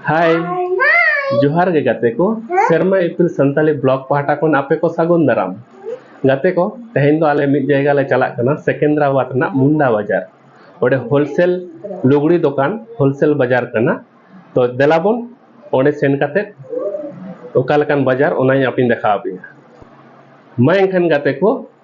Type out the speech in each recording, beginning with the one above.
ᱦᱟᱭ ᱡᱚᱦᱟᱨ ᱜᱮ ᱜᱟᱛᱮ ᱠᱚ ᱥᱮᱨᱢᱟ ᱤᱯᱤᱞ ᱥᱟᱱᱛᱟᱞᱤ ᱵᱞᱚᱜ ᱯᱟᱦᱴᱟ ᱠᱷᱚᱱ ᱟᱯᱮ ᱠᱚ ᱥᱟᱹᱜᱩᱱ ᱫᱟᱨᱟᱢ ᱜᱟᱛᱮ ᱠᱚ ᱛᱮᱦᱮᱧ ᱫᱚ ᱟᱞᱮ ᱢᱤᱫ ᱡᱟᱭᱜᱟ ᱞᱮ ᱪᱟᱞᱟᱜ ᱠᱟᱱᱟ ᱥᱮᱠᱮᱱᱫᱨᱟᱵᱟᱫᱽ ᱨᱮᱱᱟᱜ ᱢᱩᱱᱰᱟ ᱵᱟᱡᱟᱨ ᱚᱸᱰᱮ ᱦᱳᱞᱥᱮᱞ ᱞᱩᱜᱽᱲᱤ ᱫᱚᱠᱟᱱ ᱦᱳᱞᱥᱮᱞ ᱵᱟᱡᱟᱨ ᱠᱟᱱᱟ ᱛᱚ ᱫᱮᱞᱟ ᱵᱚᱱ ᱚᱸᱰᱮ ᱥᱮᱱ ᱠᱟᱛᱮ ᱚᱠᱟ ᱞᱮᱠᱟᱱ ᱵᱟᱡᱟᱨ ᱚᱱᱟᱧ ᱟᱯᱮᱧ ᱫᱮᱠᱷᱟᱣ ᱟᱯᱮᱭᱟ ᱢᱟ ᱮᱱᱠᱷᱟᱱ ᱜᱟᱛᱮ ᱠᱚ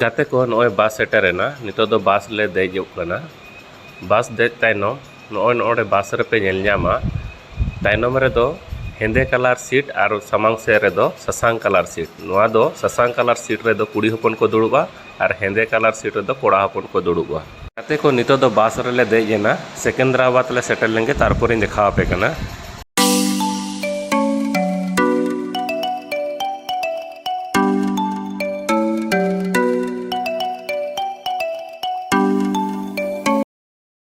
ᱜᱟᱛᱮ ᱠᱚ ᱱᱚᱜᱼᱚᱭ ᱵᱟᱥ ᱥᱮᱴᱮᱨᱮᱱᱟ ᱱᱤᱛᱚᱜ ᱫᱚ ᱵᱟᱥ ᱞᱮ ᱫᱮᱡᱚᱜ ᱠᱟᱱᱟ ᱵᱟᱥ ᱫᱮᱡ ᱛᱟᱭᱱᱚᱢ ᱱᱚᱜᱼᱚᱭ ᱱᱚᱰᱮ ᱵᱟᱥ ᱨᱮᱯᱮ ᱧᱮᱞ ᱧᱟᱢᱟ ᱛᱟᱭᱱᱚᱢ ᱨᱮᱫᱚ ᱦᱮᱸᱫᱮ ᱠᱟᱞᱟᱨ ᱥᱤᱴ ᱟᱨ ᱥᱟᱢᱟᱝ ᱥᱮᱫ ᱨᱮᱫᱚ ᱥᱟᱥᱟᱝ ᱠᱟᱞᱟᱨ ᱥᱤᱴ ᱱᱚᱣᱟ ᱫᱚ ᱥᱟᱥᱟᱝ ᱠᱟᱞᱟᱨ ᱥᱤᱴ ᱨᱮᱫᱚ ᱠᱩᱲᱤ ᱦᱚᱯᱚᱱ ᱠᱚ ᱫᱩᱲᱩᱵᱼᱟ ᱟᱨ ᱦᱮᱸᱫᱮ ᱠᱟᱞᱟᱨ ᱥᱤᱴ ᱨᱮᱫᱚ ᱠᱚᱲᱟ ᱦᱚᱯᱚᱱ ᱠᱚ ᱫᱩᱲᱩᱵᱼᱟ ᱜᱟᱛᱮ ᱠᱚ ᱱᱤᱛᱚᱜ ᱫᱚ ᱵᱟᱥ ᱨᱮᱞᱮ ᱫᱮᱡ ᱮᱱᱟ ᱥᱮᱠᱮᱱᱫᱨᱟᱵᱟᱫᱽ ᱞᱮ ᱥᱮᱴᱮᱨ ᱞᱮᱱᱜᱮ ᱛᱟᱨᱯᱚᱨᱮᱧ ᱫᱮᱠᱷᱟᱣ ᱟᱯᱮ ᱠᱟᱱᱟ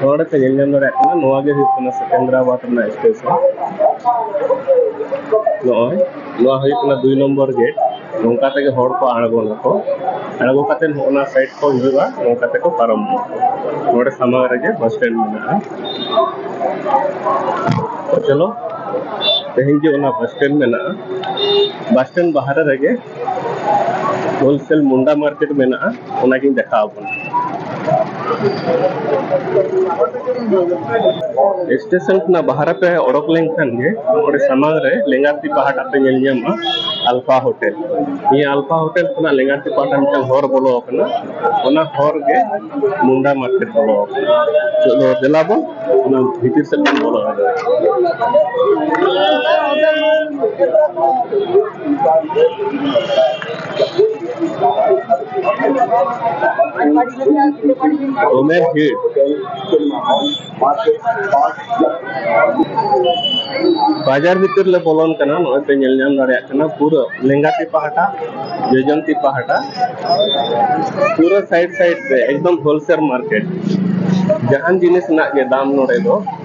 ᱱᱚᱰᱮᱛᱮ ᱧᱮᱞ ᱧᱟᱢ ᱫᱟᱲᱮᱭᱟᱜ ᱠᱟᱱᱟ ᱱᱚᱣᱟ ᱜᱮ ᱦᱩᱭᱩᱜ ᱠᱟᱱᱟ ᱥᱮᱠᱮᱱᱫᱨᱟᱵᱟᱫᱽ ᱨᱮᱱᱟᱜ ᱥᱴᱮᱥᱚᱱ ᱱᱚᱜᱼᱚᱭ ᱱᱚᱣᱟ ᱦᱩᱭᱩᱜ ᱠᱟᱱᱟ ᱫᱩᱭ ᱱᱚᱢᱵᱚᱨ ᱜᱮᱴ ᱱᱚᱝᱠᱟ ᱛᱮᱜᱮ ᱦᱚᱲ ᱠᱚ ᱟᱬᱜᱚᱱᱟᱠᱚ ᱟᱬᱜᱚ ᱠᱟᱛᱮ ᱱᱚᱜᱼᱚᱱᱟ ᱥᱟᱭᱤᱰ ᱠᱚ ᱦᱤᱡᱩᱜᱼᱟ ᱱᱚᱝᱠᱟ ᱛᱮᱠᱚ ᱯᱟᱨᱚᱢᱚᱜᱼᱟ ᱱᱚᱰᱮ ᱥᱟᱢᱟᱝ ᱨᱮᱜᱮ ᱵᱟᱥ ᱥᱴᱮᱱᱰ ᱢᱮᱱᱟᱜᱼᱟ ᱪᱚᱞᱚ ᱛᱮᱦᱮᱧ ᱡᱮ ᱚᱱᱟ ᱵᱟᱥ ᱥᱴᱮᱱᱰ ᱢᱮᱱᱟᱜᱼᱟ ᱵᱟᱥ ᱥᱴᱮᱱᱰ ᱵᱟᱦᱨᱮ ᱨᱮᱜᱮ ᱦᱳᱞᱥᱮᱞ ᱢᱩᱱᱰᱟ ᱢᱟᱨᱠᱮᱴ ᱢᱮᱱᱟᱜᱼᱟ ᱚᱱᱟᱜᱤᱧ ᱫᱮᱠᱷᱟᱣ ᱟᱵᱚᱱᱟ ᱥᱴᱮᱥᱚᱱ ᱠᱷᱚᱱᱟᱜ ᱵᱟᱦᱨᱮ ᱯᱮ ᱚᱰᱚᱠ ᱞᱮᱱᱠᱷᱟᱱ ᱜᱮ ᱚᱸᱰᱮ ᱥᱟᱢᱟᱝ ᱨᱮ ᱞᱮᱸᱜᱟᱛᱤ ᱯᱟᱦᱴᱟ ᱯᱮ ᱧᱮᱞ ᱧᱟᱢᱟ ᱟᱞᱯᱷᱟ ᱦᱳᱴᱮᱞ ᱱᱤᱭᱟᱹ ᱟᱞᱯᱷᱟ ᱦᱳᱴᱮᱞ ᱠᱷᱚᱱᱟᱜ ᱞᱮᱸᱜᱟᱛᱤ ᱯᱟᱦᱴᱟ ᱢᱤᱫᱴᱟᱝ ᱦᱚᱨ ᱵᱚᱞᱚ ᱟᱠᱟᱱᱟ ᱚᱱᱟ ᱦᱚᱨ ᱜᱮ ᱢᱩᱱᱰᱟ ᱢᱟᱨᱠᱮᱴ ᱵᱚᱞᱚ ᱟᱠᱟᱱᱟ ᱪᱚᱞᱚ ᱫᱮᱞᱟ ᱵᱚᱱ ᱚᱱᱟ ᱵᱷᱤᱛᱤᱨ ᱥᱮᱫ ᱵᱚᱱ ᱵᱚᱞᱚ ᱫᱟᱲᱮᱭᱟᱜᱼᱟ Omer here. ᱵᱟᱡᱟᱨ ᱵᱷᱤᱛᱤᱨ ᱞᱮ ᱵᱚᱞᱚᱱ ᱠᱟᱱᱟ ᱱᱚᱜᱼᱚᱭ ᱯᱮ ᱧᱮᱞ ᱧᱟᱢ ᱫᱟᱲᱮᱭᱟᱜ ᱠᱟᱱᱟ ᱯᱩᱨᱟᱹ ᱞᱮᱸᱜᱟ ᱛᱤ ᱯᱟᱦᱴᱟ ᱡᱚᱡᱚᱢ ᱛᱤ ᱯᱟᱦᱴᱟ ᱯᱩᱨᱟᱹ ᱥᱟᱭᱤᱰ ᱥᱟᱭᱤᱰ ᱛᱮ ᱮᱠᱫᱚᱢ ᱦᱳᱞᱥᱮᱞ ᱢᱟᱨᱠᱮᱴ ᱡᱟᱦᱟᱱ ᱡᱤᱱᱤᱥ ᱨᱮᱱᱟᱜ ᱜᱮ ᱫᱟᱢ ᱱᱚᱰᱮ ᱫᱚ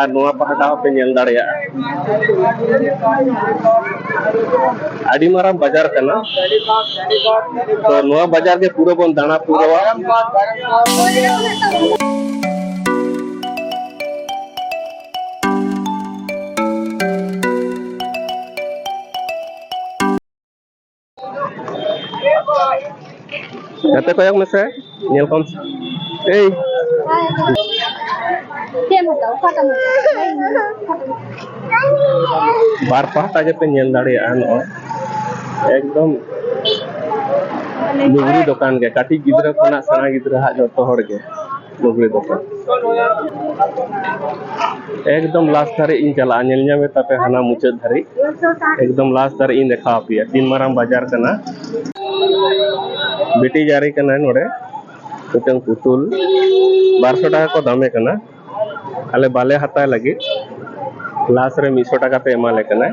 ᱟᱨ ᱱᱚᱣᱟ ᱯᱟᱦᱴᱟ ᱦᱚᱸᱯᱮ ᱧᱮᱞ ᱫᱟᱲᱮᱭᱟᱜᱼᱟ ᱟᱹᱰᱤ ᱢᱟᱨᱟᱝ ᱵᱟᱡᱟᱨ ᱠᱟᱱᱟ ᱛᱚ ᱱᱚᱣᱟ ᱵᱟᱡᱟᱨ ᱜᱮ ᱯᱩᱨᱟᱹ ᱵᱚᱱ ᱫᱟᱬᱟ ᱯᱩᱨᱟᱹᱣᱟ ᱜᱟᱛᱮ ᱠᱚᱭᱚᱜ ᱢᱮᱥᱮ ᱧᱮᱞ ᱠᱚᱢ ᱮᱭ ᱵᱟᱨ ᱯᱟᱦᱴᱟ ᱜᱮᱯᱮ ᱧᱮᱞ ᱫᱟᱲᱮᱭᱟᱜᱼᱟ ᱱᱚᱜᱼᱚᱭ ᱮᱠᱫᱚᱢ ᱞᱩᱜᱽᱲᱤ ᱫᱚᱠᱟᱱ ᱜᱮ ᱠᱟᱹᱴᱤᱡ ᱜᱤᱫᱽᱨᱟᱹ ᱠᱷᱚᱱᱟᱜ ᱥᱮᱬᱟ ᱜᱤᱫᱽᱨᱟᱹ ᱦᱟᱜ ᱡᱚᱛᱚ ᱦᱚᱲ ᱜᱮ ᱞᱩᱜᱽᱲᱤ ᱫᱚᱠᱟᱱ ᱮᱠᱫᱚᱢ ᱞᱟᱥᱴ ᱫᱷᱟᱹᱨᱤᱡ ᱤᱧ ᱪᱟᱞᱟᱜᱼᱟ ᱧᱮᱞ ᱧᱟᱢᱮ ᱛᱟᱯᱮ ᱦᱟᱱᱟ ᱢᱩᱪᱟᱹᱫ ᱫᱷᱟᱹᱨᱤᱡ ᱮᱠᱫᱚᱢ ᱞᱟᱥᱴ ᱫᱷᱟᱹᱨᱤᱡ ᱤᱧ ᱫᱮᱠᱷᱟᱣ ᱟᱯᱮᱭᱟ ᱛᱤᱱ ᱢᱟᱨᱟᱝ ᱵᱟᱡᱟᱨ ᱠᱟᱱᱟ ᱵᱤᱴᱤ ᱡᱟᱹᱨᱤ ᱠᱟᱱᱟᱭ ᱱᱚᱰᱮ ᱢᱤᱫᱴᱟᱝ ᱯᱩᱛᱩᱞ ᱵᱟᱨᱥᱚ ᱴᱟᱠᱟ ᱠᱚ ᱫᱟᱢᱮ ᱠᱟᱱᱟ ᱟᱞᱮ ᱵᱟᱞᱮ ᱦᱟᱛᱟᱣ ᱞᱟᱹᱜᱤᱫ ᱞᱟᱥ ᱨᱮ ᱢᱤᱫᱥᱚ ᱴᱟᱠᱟ ᱛᱮ ᱮᱢᱟᱞᱮ ᱠᱟᱱᱟᱭ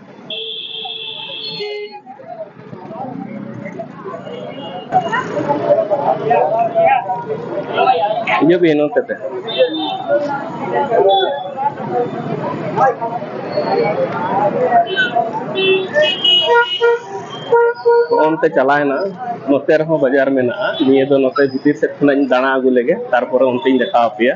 Yo bien, no te ᱚᱱᱛᱮ ᱪᱟᱞᱟᱣᱮᱱᱟ ᱱᱚᱛᱮ ᱨᱮᱦᱚᱸ ᱵᱟᱡᱟᱨ ᱢᱮᱱᱟᱜᱼᱟ ᱱᱤᱭᱟᱹ ᱫᱚ ᱱᱚᱛᱮ ᱵᱷᱤᱛᱤᱨ ᱥᱮᱫ ᱠᱷᱚᱱᱟᱜ ᱤᱧ ᱫᱟᱬᱟ ᱟᱹᱜᱩ ᱞᱮᱜᱮ ᱛᱟᱨᱯᱚᱨᱮ ᱚᱱᱛᱮᱧ ᱫᱮᱠᱷᱟᱣ ᱟᱯᱮᱭᱟ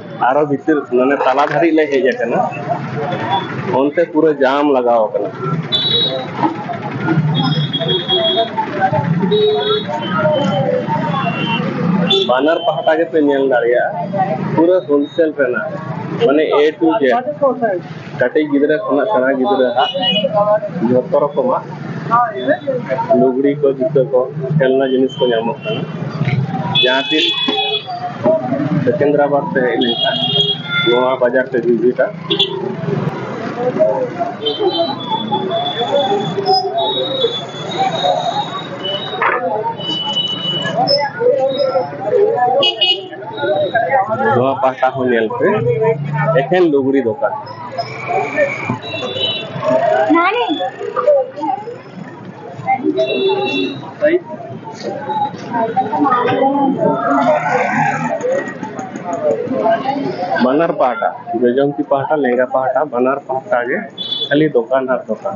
ᱟᱨᱚ ᱵᱷᱤᱛᱤᱨ ᱢᱟᱱᱮ ᱛᱟᱞᱟ ᱫᱷᱟᱹᱨᱤᱡ ᱞᱮ ᱦᱮᱡ ᱟᱠᱟᱱᱟ ᱚᱱᱛᱮ ᱯᱩᱨᱟᱹ ᱡᱟᱢ ᱞᱟᱜᱟᱣ ᱟᱠᱟᱱᱟ ᱵᱟᱱᱟᱨ ᱯᱟᱦᱴᱟ ᱜᱮᱯᱮ ᱧᱮᱞ ᱫᱟᱲᱮᱭᱟᱜᱼᱟ ᱯᱩᱨᱟᱹ ᱦᱳᱞᱥᱮᱞ ᱨᱮᱱᱟᱜ ᱢᱟᱱᱮ ᱮ ᱴᱩ ᱡᱮᱰ ᱠᱟᱹᱴᱤᱡ ᱜᱤᱫᱽᱨᱟᱹ ᱠᱷᱚᱱᱟᱜ ᱥᱮᱬᱟ ᱜᱤᱫᱽᱨᱟᱹ ᱦᱟᱜ ᱡᱚᱛᱚ ᱨᱚᱠᱚᱢᱟᱜ ᱞᱩᱜᱽᱲᱤ ᱠᱚ ᱡᱩᱛᱟᱹ ᱠᱚ ᱠᱷᱮᱞᱱᱟ ᱡᱤᱱᱤᱥ ᱠᱚ ᱧᱟᱢᱚᱜ ᱠᱟᱱᱟ ᱡᱟᱦᱟᱸ ᱛᱤᱥ ᱥᱮᱠᱮᱱᱫᱨᱟᱵᱟᱫᱽ ᱛᱮ ᱦᱮᱡ ᱞᱮᱱᱠᱷᱟᱱ ᱱᱚᱣᱟ ᱵᱟᱡᱟᱨ ᱯᱮ ᱵᱷᱤᱡᱤᱴᱟ ᱱᱚᱣᱟ ᱯᱟᱦᱴᱟ ᱦᱚᱸ ᱧᱮᱞ ᱯᱮ ᱮᱠᱷᱮᱱ ᱞᱩᱜᱽᱲᱤ ᱫᱚᱠᱟᱱ ᱵᱟᱱᱟᱨ ᱯᱟᱦᱴᱟ ᱡᱚᱡᱚᱢ ᱛᱤ ᱯᱟᱦᱴᱟ ᱞᱮᱸᱜᱟ ᱯᱟᱦᱴᱟ ᱵᱟᱱᱟᱨ ᱯᱟᱦᱴᱟ ᱜᱮ ᱠᱷᱟᱹᱞᱤ ᱫᱚᱠᱟᱱ ᱟᱨ ᱫᱚᱠᱟᱱ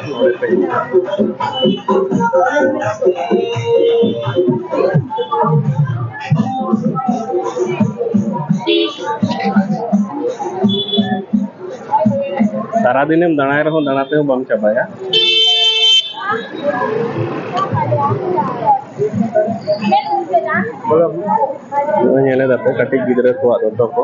ᱥᱟᱨᱟᱫᱤᱱᱮᱢ ᱫᱟᱬᱟᱭ ᱨᱮᱦᱚᱸ ᱫᱟᱬᱟ ᱛᱮᱦᱚᱸ ᱵᱟᱢ ᱪᱟᱵᱟᱭᱟ ᱧᱮᱞᱮᱫᱟᱯᱮ ᱠᱟᱹᱴᱤᱡ ᱜᱤᱫᱽᱨᱟᱹ ᱠᱚᱣᱟᱜ ᱫᱚᱛᱚ ᱠᱚ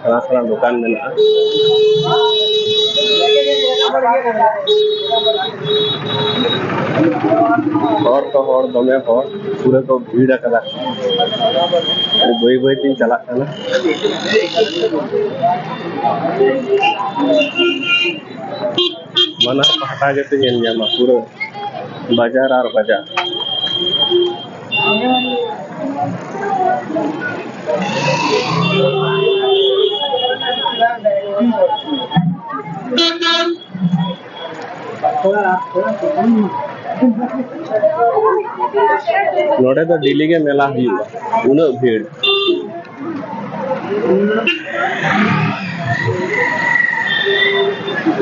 ᱥᱮᱬᱟ ᱥᱮᱬᱟ ᱫᱚᱠᱟᱱ ᱢᱮᱱᱟᱜᱼᱟ ᱦᱚᱲ ᱛᱚ ᱦᱚᱲ ᱫᱚᱢᱮ ᱦᱚᱲ ᱯᱩᱨᱟᱹ ᱠᱚ ᱵᱷᱤᱲ ᱟᱠᱟᱫᱟ ᱵᱟᱹᱭ ᱵᱟᱹᱭ ᱛᱤᱧ ᱪᱟᱞᱟᱜ ᱠᱟᱱᱟ ᱵᱟᱱᱟᱨ ᱯᱟᱦᱴᱟ ᱜᱮᱯᱮ ᱧᱮᱞ ᱧᱟᱢᱟ ᱯᱩᱨᱟᱹ ᱵᱟᱡᱟᱨ ᱟᱨ ᱵᱟᱡᱟᱨ ᱱᱚᱰᱮ ᱫᱚ ᱰᱮᱞᱤ ᱜᱮ ᱢᱮᱞᱟ ᱦᱩᱭᱩᱜᱼᱟ ᱩᱱᱟᱹᱜ ᱵᱷᱤᱲ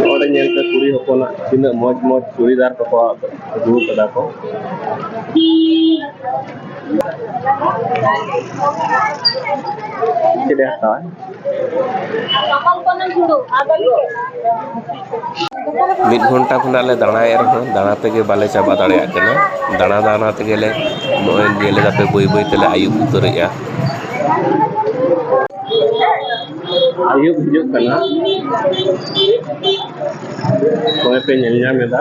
ᱱᱚᱰᱮ ᱧᱮᱞ ᱯᱮ ᱠᱩᱲᱤ ᱦᱚᱯᱚᱱᱟᱜ ᱛᱤᱱᱟᱹᱜ ᱢᱚᱡᱽ ᱢᱚᱡᱽ ᱪᱩᱲᱤᱫᱟᱨ ᱠᱚᱠᱚ ᱢᱤᱫ ᱜᱷᱚᱱᱴᱟ ᱠᱷᱚᱱᱟᱜ ᱞᱮ ᱫᱟᱬᱟᱭᱮᱫ ᱨᱮᱦᱚᱸ ᱫᱟᱬᱟ ᱛᱮᱜᱮ ᱵᱟᱞᱮ ᱪᱟᱵᱟ ᱫᱟᱲᱮᱭᱟᱜ ᱠᱟᱱᱟ ᱫᱟᱬᱟ ᱫᱟᱬᱟ ᱛᱮᱜᱮ ᱞᱮ ᱱᱚᱜᱼᱚᱭ ᱧᱮᱞ ᱮᱫᱟ ᱯᱮ ᱵᱟᱹᱭ ᱵᱟᱹᱭ ᱛᱮᱞᱮ ᱟᱹᱭᱩᱵ ᱩᱛᱟᱹᱨᱮᱜᱼᱟ ᱟᱹᱭᱩᱵ ᱦᱤᱡᱩᱜ ᱠᱟᱱᱟ ᱱᱚᱜᱼᱚᱭ ᱯᱮ ᱧᱮᱞ ᱧᱟᱢ ᱮᱫᱟ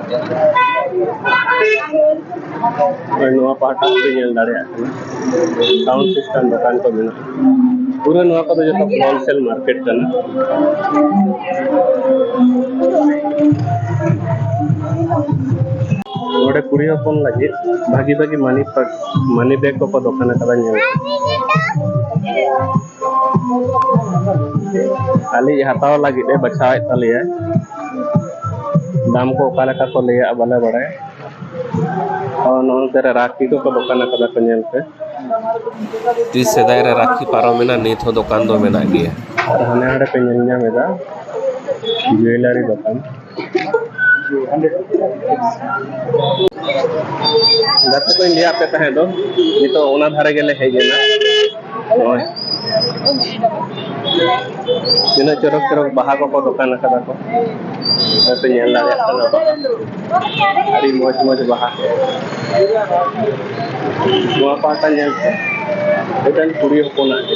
ᱱᱚᱣᱟ ᱯᱟᱦᱴᱟ ᱯᱮ ᱧᱮᱞ ᱫᱟᱲᱮᱭᱟᱜ ᱠᱟᱱᱟ ᱥᱟᱣᱩᱱᱰ ᱥᱤᱥᱴᱮᱢ ᱫᱚᱠᱟᱱ ᱠᱚ ᱢᱮᱱᱟᱜᱼᱟ ᱯᱩᱨᱟᱹ ᱱᱚᱣᱟ ᱠᱚᱫᱚ ᱡᱚᱛᱚ ᱦᱳᱞᱥᱮᱞ ᱢᱟᱨᱠᱮᱴ ᱠᱟᱱᱟ ᱱᱚᱰᱮ ᱠᱩᱲᱤ ᱦᱚᱯᱚᱱ ᱞᱟᱹᱜᱤᱫ ᱵᱷᱟᱹᱜᱤ ᱵᱷᱟᱹᱜᱤ ᱢᱟᱹᱱᱤ ᱢᱟᱹᱱᱤ ᱵᱮᱜᱽ ᱠᱚᱠᱚ ᱫᱚᱠᱟᱱ ᱟᱠᱟᱫᱟ ᱧᱮᱞ ᱟᱞᱮ ᱦᱟᱛᱟᱣ ᱞᱟᱹᱜᱤᱫ ᱮ ᱵᱟᱪᱷᱟᱣᱮᱫ ᱛᱟᱞᱮᱭᱟ ᱫᱟᱢ ᱠᱚ ᱚᱠᱟ ᱞᱮᱠᱟ ᱠᱚ ᱞᱟᱹᱭᱟ ᱵᱟᱞᱮ ᱵᱟᱲᱟᱭᱟ ᱱᱚᱱᱛᱮ ᱨᱮ ᱨᱟᱠᱷᱤ ᱠᱚᱠᱚ ᱫᱚᱠᱟᱱ ᱟᱠᱟᱫᱟ ᱠᱚ ᱧᱮᱞ ᱯᱮ ᱛᱤᱥ ᱥᱮᱫᱟᱭ ᱨᱮ ᱨᱟᱠᱷᱤ ᱯᱟᱨᱚᱢᱮᱱᱟ ᱱᱤᱛ ᱦᱚᱸ ᱫᱚᱠᱟᱱ ᱫᱚ ᱢᱮᱱᱟᱜ ᱜᱮᱭᱟ ᱟᱨ ᱦᱟᱱᱮ ᱦᱟᱸᱰᱮ ᱯᱮ ᱧᱮᱞ ᱧᱟᱢᱮᱫᱟ ᱡᱩᱭᱮᱞᱟᱨᱤ ᱫᱚᱠᱟᱱ ᱜᱟᱛᱮ ᱠᱚᱧ ᱞᱟᱹᱭᱟᱫ ᱯᱮ ᱛᱟᱦᱮᱸ ᱫᱚ ᱱᱤᱛᱚᱜ ᱚᱱᱟ ᱫᱷᱟᱨᱮ ᱜᱮᱞᱮ ᱦᱮᱡ ᱮᱱᱟ ᱱᱚᱜᱼᱚᱭ ᱛᱤᱱᱟᱹᱜ ᱪᱚᱨᱚᱠ ᱪᱚᱨᱚᱠ ᱵᱟᱦᱟ ᱠᱚᱠᱚ ᱫᱚᱠᱟᱱ ᱟᱠᱟᱫᱟ ᱠᱚ ᱦᱚᱭᱛᱚ ᱧᱮᱞ ᱫᱟᱲᱮᱭᱟᱜ ᱠᱟᱱᱟ ᱵᱟᱦᱟ ᱟᱹᱰᱤ ᱢᱚᱡᱽ ᱢᱚᱡᱽ ᱵᱟᱦᱟ ᱱᱚᱣᱟ ᱯᱟᱦᱴᱟ ᱧᱮᱞ ᱯᱮ ᱢᱤᱫᱴᱮᱱ ᱠᱩᱲᱤ ᱦᱚᱯᱚᱱᱟᱜ ᱜᱮ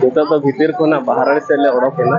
ᱱᱤᱛᱚᱜ ᱫᱚ ᱵᱷᱤᱛᱤᱨ ᱠᱷᱚᱱᱟᱜ ᱵᱟᱦᱨᱮ ᱥᱮᱫ ᱞᱮ ᱚᱰᱚᱠ ᱮᱱᱟ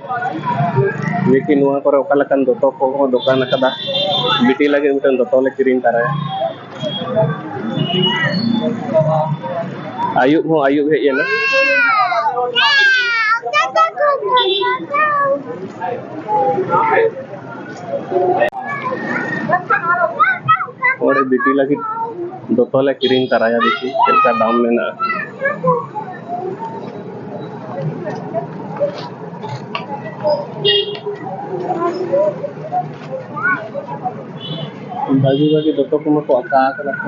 ᱵᱤᱴᱤ ᱱᱚᱣᱟ ᱠᱚᱨᱮ ᱚᱠᱟ ᱞᱮᱠᱟᱱ ᱫᱚᱛᱚ ᱠᱚᱦᱚᱸ ᱫᱚᱠᱟᱱ ᱟᱠᱟᱫᱟ ᱵᱤᱴᱤ ᱞᱟᱹᱜᱤᱫ ᱢᱤᱫᱴᱟᱝ ᱫᱚᱛᱚ ᱞᱮ ᱠᱤᱨᱤᱧ ᱛᱟᱨᱟᱭᱟ ᱟᱭᱩᱵ ᱦᱚᱸ ᱟᱭᱩᱵ ᱦᱮᱡ ᱮᱱᱟ ᱚᱸᱰᱮ ᱵᱤᱴᱤ ᱞᱟᱹᱜᱤᱫ ᱫᱚᱛᱚ ᱞᱮ ᱠᱤᱨᱤᱧ ᱛᱟᱨᱟᱭᱟ ᱵᱤᱴᱤ ᱪᱮᱫ ᱞᱮᱠᱟ ᱫᱟᱢ ᱢᱮᱱᱟᱜᱼᱟ ᱵᱷᱟᱹᱜᱤ ᱵᱷᱟᱹᱜᱤ ᱫᱚᱛᱚ ᱠᱚᱢᱟ ᱠᱚ ᱟᱠᱟ ᱟᱠᱟᱫᱟ ᱠᱚ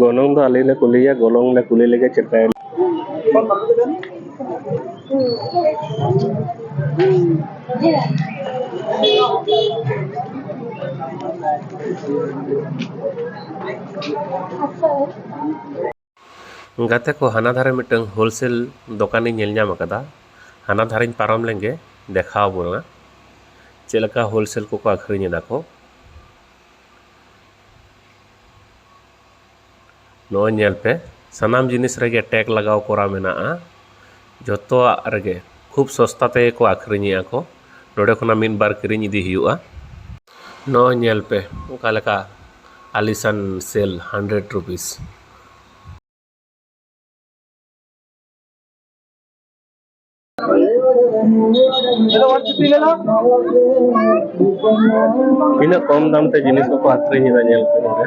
ᱜᱚᱱᱚᱝ ᱫᱚ ᱟᱞᱮ ᱞᱮ ᱠᱩᱞᱤᱭᱟ ᱜᱚᱱᱚᱝ ᱞᱮ ᱠᱩᱞᱤ ᱞᱮᱜᱮ ᱪᱮᱫ ᱞᱮᱠᱟᱭ ᱜᱟᱛᱮ ᱠᱚ ᱦᱟᱱᱟ ᱫᱷᱟᱨᱮ ᱢᱤᱫᱴᱟᱹᱝ ᱦᱳᱞᱥᱮᱞ ᱫᱚᱠᱟᱱᱤᱧ ᱧᱮᱞ ᱧᱟᱢ ᱟᱠᱟᱫᱟ ᱦᱟᱱᱟ ᱫᱷᱟᱨᱮᱧ ᱯᱟᱨᱚᱢ ᱞᱮᱱ ᱜᱮ ᱫᱮᱠᱷᱟᱣ ᱵᱚᱱᱟ ᱪᱮᱫ ᱞᱮᱠᱟ ᱦᱳᱞᱥᱮᱞ ᱠᱚᱠᱚ ᱟᱹᱠᱷᱨᱤᱧ ᱮᱫᱟ ᱠᱚ ᱱᱚᱜᱼᱚᱭ ᱧᱮᱞ ᱯᱮ ᱥᱟᱱᱟᱢ ᱡᱤᱱᱤᱥ ᱨᱮᱜᱮ ᱴᱮᱜᱽ ᱞᱟᱜᱟᱣ ᱠᱚᱨᱟᱣ ᱢᱮᱱᱟᱜᱼᱟ ᱡᱚᱛᱚᱣᱟᱜ ᱨᱮᱜᱮ ᱠᱷᱩᱵᱽ ᱥᱚᱥᱛᱟ ᱛᱮᱜᱮ ᱠᱚ ᱟᱹᱠᱷᱨᱤᱧᱮᱜᱼᱟ ᱠᱚ ᱱᱚᱰᱮ ᱠᱷᱚᱱᱟᱜ ᱢᱤᱫ ᱵᱟᱨ ᱠᱤᱨᱤᱧ ᱤᱫᱤ ᱦᱩᱭᱩᱜᱼᱟ ᱱᱚᱜᱼᱚᱭ ᱧᱮᱞ ᱯᱮ ᱚᱠᱟ ᱞᱮᱠᱟ ᱟᱞᱤᱥᱟᱱ ᱥᱮᱞ ᱦᱟᱱᱰᱨᱮᱰ ᱨᱩᱯᱤᱥ ᱛᱤᱱᱟᱹᱜ ᱠᱚᱢ ᱫᱟᱢ ᱛᱮ ᱡᱤᱱᱤᱥ ᱠᱚᱠᱚ ᱟᱹᱠᱷᱨᱤᱧᱮᱫᱟ ᱧᱮᱞ ᱯᱮ ᱱᱚᱰᱮ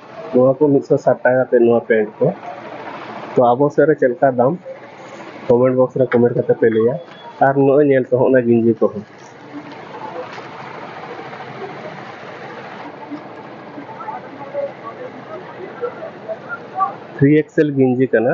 ᱱᱚᱣᱟ ᱠᱚ ᱢᱤᱫ ᱥᱚ ᱥᱟᱴ ᱴᱟᱠᱟ ᱠᱟᱛᱮ ᱱᱚᱣᱟ ᱯᱮᱱᱴ ᱠᱚ ᱛᱚ ᱟᱵᱚ ᱥᱮᱫ ᱨᱮ ᱪᱮᱫ ᱞᱮᱠᱟ ᱫᱟᱢ ᱠᱚᱢᱮᱱᱴ ᱵᱚᱠᱥ ᱨᱮ ᱠᱚᱢᱮᱱᱴ ᱠᱟᱛᱮ ᱯᱮ ᱞᱟᱹᱭᱟ ᱟᱨ ᱱᱚᱜᱼᱚᱭ ᱧᱮᱞ ᱯᱮ ᱦᱚᱸᱜᱼᱚᱱᱟ ᱜᱤᱧᱡᱤ ᱠᱚᱦᱚᱸ ᱛᱷᱨᱤ ᱮᱠᱥᱮᱞ ᱜᱤᱧᱡᱤ ᱠᱟᱱᱟ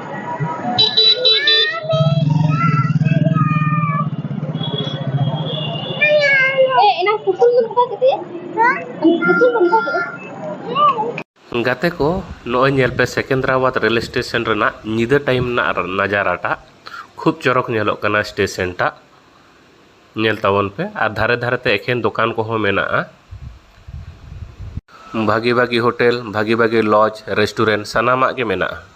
ᱜᱟᱛᱮ ᱠᱚ ᱱᱚᱜᱼᱚᱭ ᱧᱮᱞ ᱯᱮ ᱥᱮᱠᱮᱱᱫᱨᱟᱵᱟᱫᱽ ᱨᱮᱞ ᱥᱴᱮᱥᱚᱱ ᱨᱮᱱᱟᱜ ᱧᱤᱫᱟᱹ ᱴᱟᱭᱤᱢ ᱨᱮᱱᱟᱜ ᱱᱟᱡᱟᱨᱟᱴᱟᱜ ᱠᱷᱩᱵ ᱪᱚᱨᱚᱠ ᱧᱮᱞᱚᱜ ᱠᱟᱱᱟ ᱥᱴᱮᱥᱚᱱ ᱴᱟᱜ ᱧᱮᱞ ᱛᱟᱵᱚᱱ ᱯᱮ ᱟᱨ ᱫᱷᱟᱨᱮ ᱫᱷᱟᱨᱮ ᱛᱮ ᱮᱠᱷᱮᱱ ᱫᱚᱠᱟᱱ ᱠᱚᱦᱚᱸ ᱢᱮᱱᱟᱜᱼᱟ ᱵᱷᱟᱹᱜᱤ ᱵᱷᱟᱹᱜᱤ ᱦᱳᱴᱮᱞ ᱵᱷᱟᱹᱜᱤ ᱵᱷᱟᱹᱜᱤ ᱞᱚᱡᱽ ᱨᱮᱥᱴᱩᱨᱮᱱᱴ ᱥᱟᱱᱟᱢᱟᱜ ᱜᱮ ᱢᱮᱱᱟᱜᱼᱟ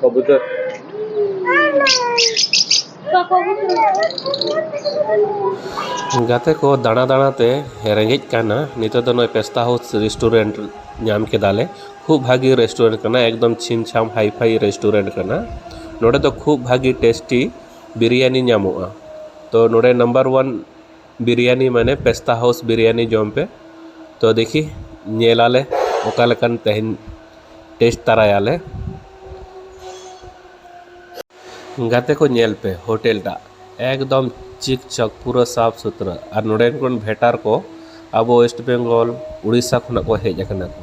Kobuter. ᱜᱟᱛᱮ ᱠᱚ ᱫᱟᱬᱟ ᱫᱟᱬᱟᱛᱮ ᱨᱮᱸᱜᱮᱡ ᱠᱟᱱᱟ ᱱᱤᱛᱚᱜ ᱫᱚ ᱱᱚᱜᱼᱚᱭ ᱯᱮᱥᱛᱟ ᱦᱟᱣᱩᱥ ᱨᱮᱥᱴᱩᱨᱮᱱᱴ ᱧᱟᱢ ᱠᱮᱫᱟᱞᱮ ᱠᱷᱩᱵ ᱵᱷᱟᱹᱜᱤ ᱨᱮᱥᱴᱩᱨᱮᱱᱴ ᱠᱟᱱᱟ ᱮᱠᱫᱚᱢ ᱪᱷᱤᱢ ᱪᱷᱟᱢ ᱦᱟᱭ ᱯᱷᱟᱭ ᱨᱮᱥᱴᱩᱨᱮᱱᱴ ᱠᱟᱱᱟ ᱱᱚᱰᱮ ᱫᱚ ᱠᱷᱩᱵ ᱵᱷᱟᱹᱜᱤ ᱴᱮᱥᱴᱤ ᱵᱤᱨᱭᱟᱱᱤ ᱧᱟᱢᱚᱜᱼᱟ ᱛᱚ ᱱᱚᱰᱮ ᱱᱟᱢᱵᱟᱨ ᱚᱣᱟᱱ ᱵᱤᱨᱭᱟᱱᱤ ᱢᱟᱱᱮ ᱯᱮᱥᱛᱟ ᱦᱟᱣᱩᱥ ᱵᱤᱨᱭᱟᱱᱤ ᱡᱚᱢ ᱯᱮ ᱛᱚ ᱫᱮᱠᱷᱤ ᱧᱮᱞ ᱟᱞᱮ ᱚᱠᱟ ᱞᱮᱠᱟᱱ ᱛᱮᱦᱮᱧ ᱴᱮᱥᱴ ᱛᱟᱨᱟᱭᱟᱞᱮ ᱜᱟᱛᱮ ᱠᱚ ᱧᱮᱞ ᱯᱮ ᱦᱳᱴᱮᱞ ᱴᱟᱜ ᱮᱠᱫᱚᱢ ᱪᱤᱠ ᱪᱚᱠ ᱯᱩᱨᱟᱹ ᱥᱟᱯᱷ ᱥᱩᱛᱨᱟᱹ ᱟᱨ ᱱᱚᱰᱮᱱ ᱠᱚ ᱵᱷᱮᱴᱟᱨ ᱠᱚ ᱟᱵᱚ ᱳᱭᱮᱥᱴ ᱵᱮᱝᱜᱚᱞ ᱩᱲᱤᱥᱥᱟ ᱠᱷᱚᱱᱟᱜ ᱠᱚ ᱦᱮᱡ ᱟᱠᱟᱱᱟ ᱠᱚ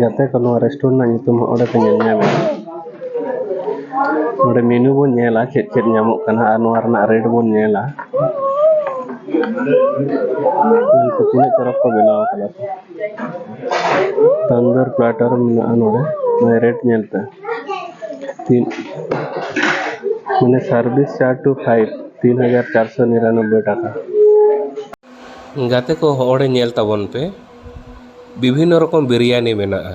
ᱜᱟᱛᱮ ᱠᱚ ᱱᱚᱣᱟ ᱨᱮᱥᱴᱩᱨᱮᱱᱴ ᱨᱮᱱᱟᱜ ᱧᱩᱛᱩᱢ ᱦᱚᱸ ᱚᱸᱰᱮ ᱯᱮ ᱧᱮᱞ ᱧᱟᱢᱟ ᱱᱚᱰᱮ ᱢᱮᱱᱩ ᱵᱚᱱ ᱧᱮᱞᱟ ᱪᱮᱫ ᱪᱮᱫ ᱧᱟᱢᱚᱜ ᱠᱟᱱᱟ ᱟᱨ ᱱᱚᱣᱟ ᱨᱮᱱᱟᱜ ᱨᱮᱴ ᱵᱚᱱ ᱧᱮᱞᱟ ᱩᱱᱠᱩ ᱛᱤᱱᱟᱹᱜ ᱪᱚᱨᱚᱠ ᱠᱚ ᱵᱮᱱᱟᱣ ᱠᱟᱫᱟ ᱛᱟᱱᱫᱚᱨ ᱯᱞᱟᱴᱟᱨ ᱢᱮᱱᱟᱜᱼᱟ ᱱᱚᱰᱮ ᱱᱚᱣᱟ ᱨᱮᱴ ᱧᱮᱞᱛᱮ ᱛᱤᱱ ᱢᱟᱱᱮ ᱥᱟᱨভিস ᱪᱟᱨ ᱴᱩ ᱯᱷᱟᱭᱤᱵᱷ ᱛᱤᱱ ᱦᱟᱡᱟᱨ ᱪᱟᱨᱥᱚ ᱱᱤᱨᱟᱱᱚᱵᱵᱳᱭ ᱴᱟᱠᱟ ᱜᱟᱛᱮ ᱠᱚ ᱦᱚᱲ ᱧᱮᱞ ᱛᱟᱵᱚᱱ ᱯᱮ ᱵᱤᱵᱷᱤᱱᱱᱚ ᱨᱚᱠᱚᱢ ᱵᱤᱨᱭᱟᱱᱤ ᱢᱮᱱᱟᱜᱼᱟ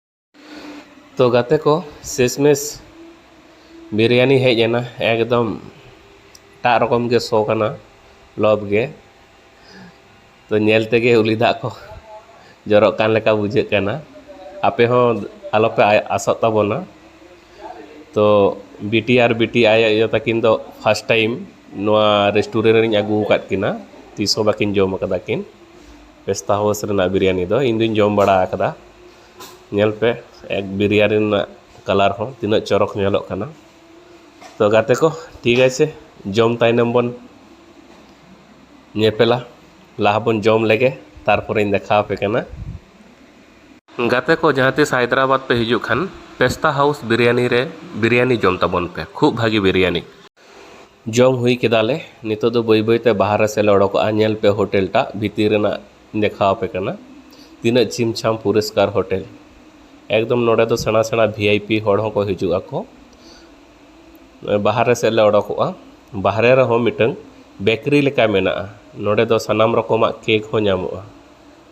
ᱛᱚ ᱜᱟᱛᱮ ᱠᱚ ᱥᱮᱥ ᱢᱮᱥ ᱵᱤᱨᱭᱟᱱᱤ ᱦᱮᱡ ᱮᱱᱟ ᱮᱠᱫᱚᱢ ᱮᱴᱟᱜ ᱨᱚᱠᱚᱢ ᱜᱮ ᱥᱚ ᱠᱟᱱᱟ ᱞᱚᱵᱽ ᱜᱮ ᱛᱚ ᱧᱮᱞ ᱛᱮᱜᱮ ᱩᱞᱤ ᱫᱟᱜ ᱠᱚ ᱡᱚᱨᱚᱜ ᱠᱟᱱ ᱞᱮᱠᱟ ᱵᱩᱡᱷᱟᱹᱜ ᱠᱟᱱᱟ ᱟᱯᱮ ᱦᱚᱸ ᱟᱞᱚ ᱯᱮ ᱟᱥᱚᱜ ᱛᱟᱵᱚᱱᱟ ᱛᱚ ᱵᱤᱴᱤ ᱟᱨ ᱵᱤᱴᱤ ᱟᱭᱳ ᱟᱭᱳ ᱛᱟᱹᱠᱤᱱ ᱫᱚ ᱯᱷᱟᱥᱴ ᱴᱟᱭᱤᱢ ᱱᱚᱣᱟ ᱨᱮᱥᱴᱩᱨᱮᱱᱴ ᱨᱤᱧ ᱟᱹᱜᱩ ᱟᱠᱟᱫ ᱠᱤᱱᱟ ᱛᱤᱥ ᱦᱚᱸ ᱵᱟᱹᱠᱤᱱ ᱡᱚᱢ ᱠᱟᱫᱟ ᱠᱤᱱ ᱯᱮᱥᱛᱟ ᱦᱟᱣᱩᱥ ᱨᱮᱱᱟᱜ ᱵᱤᱨᱤᱭᱟᱱᱤ ᱫᱚ ᱤᱧ ᱫᱚᱧ ᱡᱚᱢ ᱵᱟᱲᱟ ᱟᱠᱟᱫᱟ ᱧᱮᱞ ᱯᱮ ᱮᱠ ᱵᱤᱨᱤᱭᱟᱱᱤ ᱨᱮᱱᱟᱜ ᱠᱟᱞᱟᱨ ᱦᱚᱸ ᱛᱤᱱᱟᱹᱜ ᱪᱚᱨᱚᱠ ᱧᱮᱞᱚᱜ ᱠᱟᱱᱟ ᱛᱚ ᱜᱟᱛᱮ ᱠᱚ ᱴᱷᱤᱠ ᱟᱪᱷᱮ ᱡᱚᱢ ᱛᱟᱭᱱᱚᱢ ᱵᱚᱱ ᱧᱮᱯᱮᱞᱟ ᱞᱟᱦᱟ ᱵᱚᱱ ᱡᱚᱢ ᱞᱮᱜᱮ ᱛᱟᱨᱯᱚᱨᱮᱧ ᱫᱮᱠᱷᱟᱣ ᱟᱯᱮ ᱠᱟᱱᱟ ᱜᱟᱛᱮ ᱠᱚ ᱡᱟᱦᱟᱸ ᱛᱤᱥ ᱦᱟᱭᱫᱨᱟᱵᱟᱫᱽ ᱯᱮ ᱦᱤᱡᱩᱜ ᱠᱷᱟᱱ ᱯᱮᱥᱛᱟ ᱦᱟᱣᱩᱥ ᱵᱤᱨᱤᱭᱟᱱᱤ ᱨᱮ ᱵᱤᱨᱤᱭᱟᱱᱤ ᱡᱚᱢ ᱛᱟᱵᱚᱱ ᱯᱮ ᱠᱷᱩᱵᱽ ᱵᱷᱟᱹᱜᱤ ᱵᱤᱨᱤᱭᱟᱱᱤ ᱡᱚᱢ ᱦᱩᱭ ᱠᱮᱫᱟ ᱞᱮ ᱱᱤᱛᱚᱜ ᱫᱚ ᱵᱟᱹᱭ ᱵᱟᱹᱭᱛᱮ ᱵᱟᱦᱟᱨᱮ ᱥᱮᱫ ᱞᱮ ᱚᱰᱚᱠᱚᱜᱼᱟ ᱧᱮᱞ ᱯᱮ ᱦᱳᱴᱮᱞ ᱴᱟᱜ ᱵᱷᱤᱛᱤᱨ ᱨᱮᱱᱟᱜ ᱤᱧ ᱫᱮᱠᱷᱟᱣ ᱟᱯᱮ ᱠᱟᱱᱟ ᱛᱤᱱᱟᱹᱜ ᱪᱷᱤᱢ ᱪᱷᱟᱢ ᱯᱚᱨᱤᱥᱠᱟᱨ ᱦᱳᱴᱮᱞ ᱮᱠᱫᱚᱢ ᱱᱚᱰᱮ ᱫᱚ ᱥᱮᱬᱟ ᱥᱮᱬᱟ ᱵᱷᱤ ᱟᱭ ᱯᱤ ᱦᱚᱲ ᱦᱚᱸᱠᱚ ᱦᱤᱡᱩᱜ ᱟᱠᱚ ᱵᱟᱦᱟᱨᱮ ᱥᱮᱫ ᱞᱮ ᱚᱰᱚᱠᱚᱜᱼᱟ ᱵᱟᱦᱨᱮ ᱨᱮᱦᱚᱸ ᱢᱤᱫᱴᱟᱹᱝ ᱵᱮᱠᱨᱤ ᱞᱮᱠᱟ ᱢᱮᱱᱟᱜᱼᱟ ᱱᱚᱰᱮ ᱫᱚ ᱥᱟᱱᱟᱢ ᱨᱚᱠᱚᱢᱟᱜ ᱠᱮᱠ ᱦᱚᱸ ᱧᱟᱢᱚᱜᱼᱟ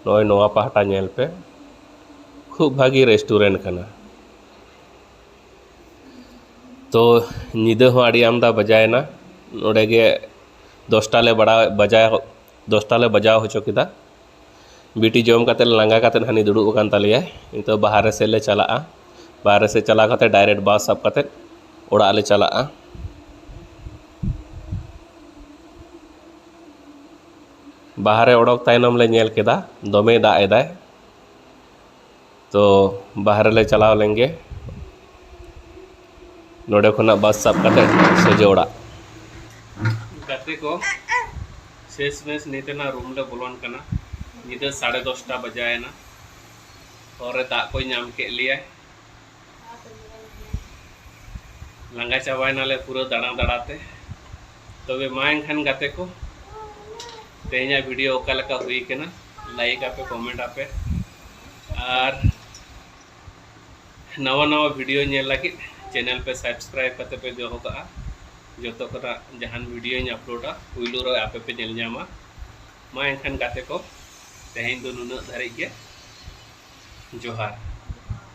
ᱱᱚᱜᱼᱚᱭ ᱱᱚᱣᱟ ᱯᱟᱦᱴᱟ ᱧᱮᱞ ᱯᱮ ᱠᱷᱩᱵ ᱵᱷᱟᱹᱜᱤ ᱨᱮᱥᱴᱩᱨᱮᱱᱴ ᱠᱟᱱᱟ ᱛᱚ ᱧᱤᱫᱟᱹ ᱦᱚᱸ ᱟᱹᱰᱤ ᱟᱢᱫᱟ ᱵᱟᱡᱟᱣᱮᱱᱟ ᱱᱚᱰᱮ ᱜᱮ ᱫᱚᱥᱴᱟ ᱞᱮ ᱵᱟᱲᱟᱣ ᱵᱟᱡᱟᱣ ᱫᱚᱥᱴᱟ ᱞᱮ ᱵᱟᱡᱟᱣ ᱦᱚᱪᱚ ᱠᱮᱫᱟ ᱵᱤᱴᱤ ᱡᱚᱢ ᱠᱟᱛᱮ ᱞᱟᱸᱜᱟ ᱠᱟᱛᱮ ᱦᱟᱱᱮ ᱫᱩᱲᱩᱵ ᱟᱠᱟᱱ ᱛᱟᱞᱮᱭᱟ ᱱᱤᱛᱚᱜ ᱵᱟᱦᱨᱮ ᱥᱮᱫ ᱞᱮ ᱪᱟᱞᱟᱜᱼᱟ ᱵᱟᱦᱨᱮ ᱥᱮᱫ ᱪᱟᱞᱟᱣ ᱠᱟᱛᱮ ᱰᱟᱭᱨᱮᱠᱴ ᱵᱟᱥ ᱥᱟᱵ ᱠᱟᱛᱮ ᱚᱲᱟᱜ ᱞᱮ ᱪᱟᱞᱟᱜᱼᱟ ᱵᱟᱦᱨᱮ ᱚᱰᱚᱠ ᱛᱟᱭᱱᱚᱢ ᱞᱮ ᱧᱮᱞ ᱠᱮᱫᱟ ᱫᱚᱢᱮᱭ ᱫᱟᱜ ᱮᱫᱟᱭ ᱛᱚ ᱵᱟᱦᱨᱮ ᱞᱮ ᱪᱟᱞᱟᱣ ᱞᱮᱱ ᱜᱮ ᱱᱚᱰᱮ ᱠᱷᱚᱱᱟᱜ ᱵᱟᱥ ᱥᱟᱵ ᱠᱟᱛᱮ ᱥᱚᱡᱷᱮ ᱚᱲᱟᱜ ᱜᱟᱛᱮ ᱠᱚ ᱥᱮᱥ ᱢᱮᱥ ᱱᱤᱛ ᱨᱮᱱᱟᱜ ᱨᱩᱢ ᱞᱮ ᱵᱚᱞᱚᱱ ᱠᱟᱱᱟ ᱧᱤᱫᱟᱹ ᱥᱟᱲᱮ ᱫᱚᱥᱴᱟ ᱵᱟᱡᱟᱭᱮᱱᱟ ᱦᱚᱨ ᱨᱮ ᱫᱟᱜ ᱠᱚᱭ ᱧᱟᱢ ᱠᱮᱫ ᱞᱮᱭᱟ ᱞᱟᱸᱜᱟ ᱪᱟᱵᱟᱭᱮᱱᱟᱞᱮ ᱯᱩᱨᱟᱹ ᱫᱟᱬᱟ ᱫᱟᱬᱟᱛᱮ ᱛᱚᱵᱮ ᱢᱟ ᱮᱱᱠᱷᱟᱱ ᱜᱟᱛᱮ ᱠᱚ ᱛᱮᱦᱮᱧᱟᱜ ᱵᱷᱤᱰᱤᱭᱳ ᱚᱠᱟ ᱞᱮᱠᱟ ᱦᱩᱭ ᱠᱟᱱᱟ ᱞᱟᱭᱤᱠ ᱟᱯᱮ ᱠᱚᱢᱮᱱᱴ ᱟᱯᱮ ᱟᱨ ᱱᱟᱣᱟ ᱱᱟᱣᱟ ᱵᱷᱤᱰᱤᱭᱳ ᱧᱮᱞ ᱞᱟᱹᱜᱤᱫ ᱪᱮᱱᱮᱞ ᱯᱮ ᱥᱟᱵᱥᱠᱨᱟᱭᱤᱵ ᱠᱟᱛᱮ ᱯᱮ ᱫᱚᱦᱚ ᱠᱟᱜᱼᱟ ᱡᱚᱛᱚ ᱠᱷᱚᱱᱟᱜ ᱡᱟᱦᱟᱱ ᱵᱷᱤᱰᱤᱭᱳᱧ ᱟᱯᱞᱳᱰᱟ ᱯᱩᱭᱞᱩ ᱨᱮ ᱟᱯᱮ ᱯᱮ ᱧᱮᱞ ᱧᱟᱢᱟ ᱢᱟ ᱮᱱᱠᱷᱟᱱ ᱜᱟᱛᱮ ᱠᱚ ᱛᱮᱦᱮᱧ ᱫᱚ ᱱᱩᱱᱟᱹᱜ ᱫᱷᱟᱹᱨᱤᱡ ᱜᱮ ᱡᱚᱦᱟᱨ